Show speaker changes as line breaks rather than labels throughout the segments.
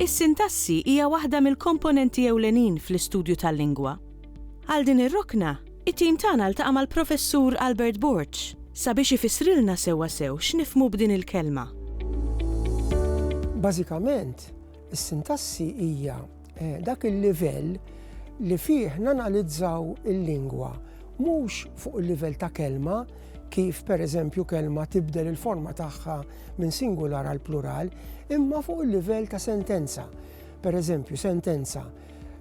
Is-sintassi hija waħda mill-komponenti ewlenin fl-istudju tal-lingwa. Għal din ir-rokna, it-tim tagħna ltaqa' mal-Professur Albert Borg sabiex ifissrilna sewwasew x'nifhmu b'din il-kelma.
Bażikament, Fil-fatt, is-sintassi hija eh, dak il-livell li fih nanalizzaw il-lingwa mhux fuq il-livell ta' kelma kif per eżempju kelma tibdel il-forma tagħha minn singular għal plural, imma fuq il-livell ta' sentenza. Per eżempju, sentenza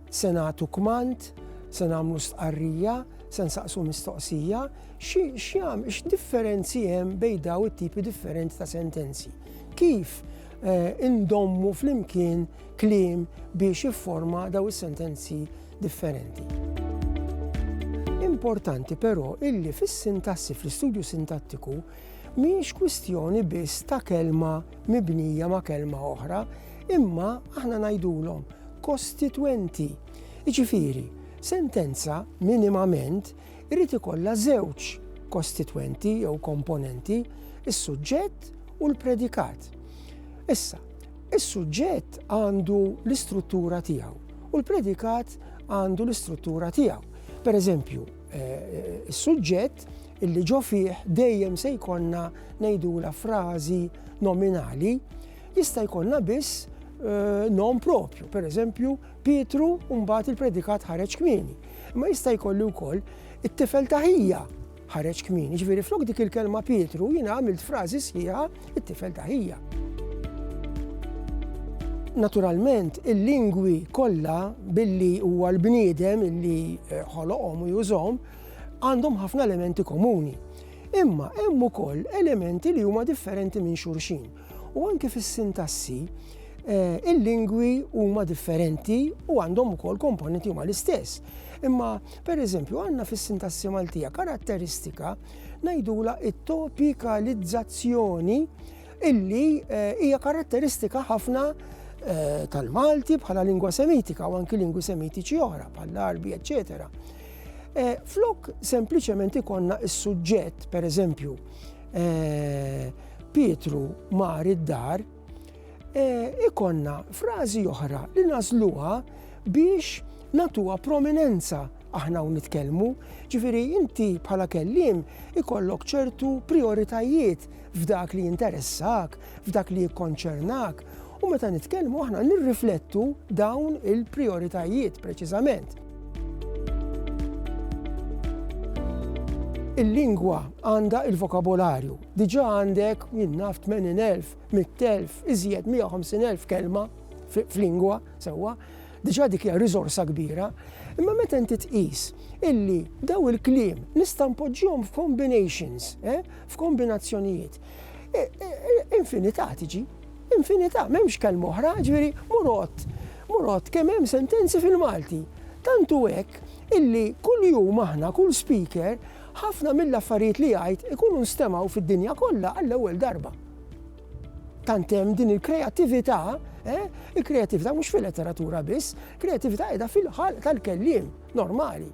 se nagħtu kmand, se nagħmlu stqarrija, se nsaqsu mistoqsija, x'jam x'differenzi hemm bejn daw it-tipi differenti ta' sentenzi. Kif indommu flimkien kliem biex jifforma daw is-sentenzi differenti. Importanti però illi fis-sintassi fl-istudju sintattiku mhijiex kwistjoni biss ta' kelma mibnija ma' kelma oħra, imma aħna ngħidulhom kostitwenti. Jiġifieri, sentenza minimament irid ikollha żewġ kostitwenti jew komponenti, is-suġġett u l-predikat. Issa, is-suġġett għandu l-istruttura tiegħu u l-predikat għandu l-istruttura tiegħu. Per eżempju, eh, eh, is-suġġett illi ġo fih dejjem se jkollna ngħidula frażi nominali jista' jkollna biss eh, nom propju, per eżempju Pietru u mbagħad il-predikat ħareġ kmieni. Imma jista' jkolli wkoll it-tifel ta' ħija ħareġ kmieni. Ġifieri flok dik il-kelma Pietru jiena għamilt frażi sħiħa it-tifel ta' ħija. Naturalment, il-lingwi kollha billi huwa l-bniedem illi eh, ħoloqhom u jużhom għandhom ħafna elementi komuni. Imma hemm ukoll elementi li huma differenti minn xulxin. U anke fis-sintassi, il-lingwi huma differenti u għandhom ukoll komponenti huma l-istess. Imma, per eżempju, għandna fis-sintassi Maltija karatteristika ngħidula it-topikalizzazzjoni illi eh, hija karatteristika ħafna eh, tal-Malti bħala lingwa semitika u anki lingwi semitiċi oħra bħall-Arbi, eccetera. Eh, flok sempliċement ikonna is-suġġett, per eżempju, Pietru mar id-dar, e, ikonna frażi oħra li nażluha biex natuha prominenza aħna u nitkellmu, ġifiri inti bħala kellim ikollok ċertu prioritajiet f'dak li jinteressak, f'dak li jikkonċernak, u meta nitkellmu aħna nirriflettu dawn il-prioritajiet preċiżament. Il-lingwa għandha il-vokabolarju, Diġà għandek, jien naf, 80,000, 100,000, iżjed 150,000 kelma f'lingwa sewwa, diġà dik hija riżorsa kbira, imma meta inti tqis illi daw il-kliem nista' npoġġihom f'combinations, eh, f'kombinazzjonijiet, e, e, e, infinità tiġi, infinità, m'hemmx kelma oħra, ġifieri murot, murot kemm hemm sentenzi fil-Malti. Tantu hekk illi kull jum aħna, kull speaker, Ħafna mill-affarijiet li jgħid ikunu nstemgħu fid-dinja kollha għall-ewwel darba. Tant hemm din il-kreattività, eh, il-kreattività mhux fil-letteratura biss, kreattività qiegħda fil-ħalq tal-kelliem normali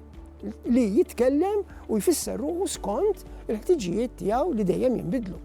li jitkellem u jfisser ruħu skont il-ħtiġijiet tiegħu li dejjem jinbidlu.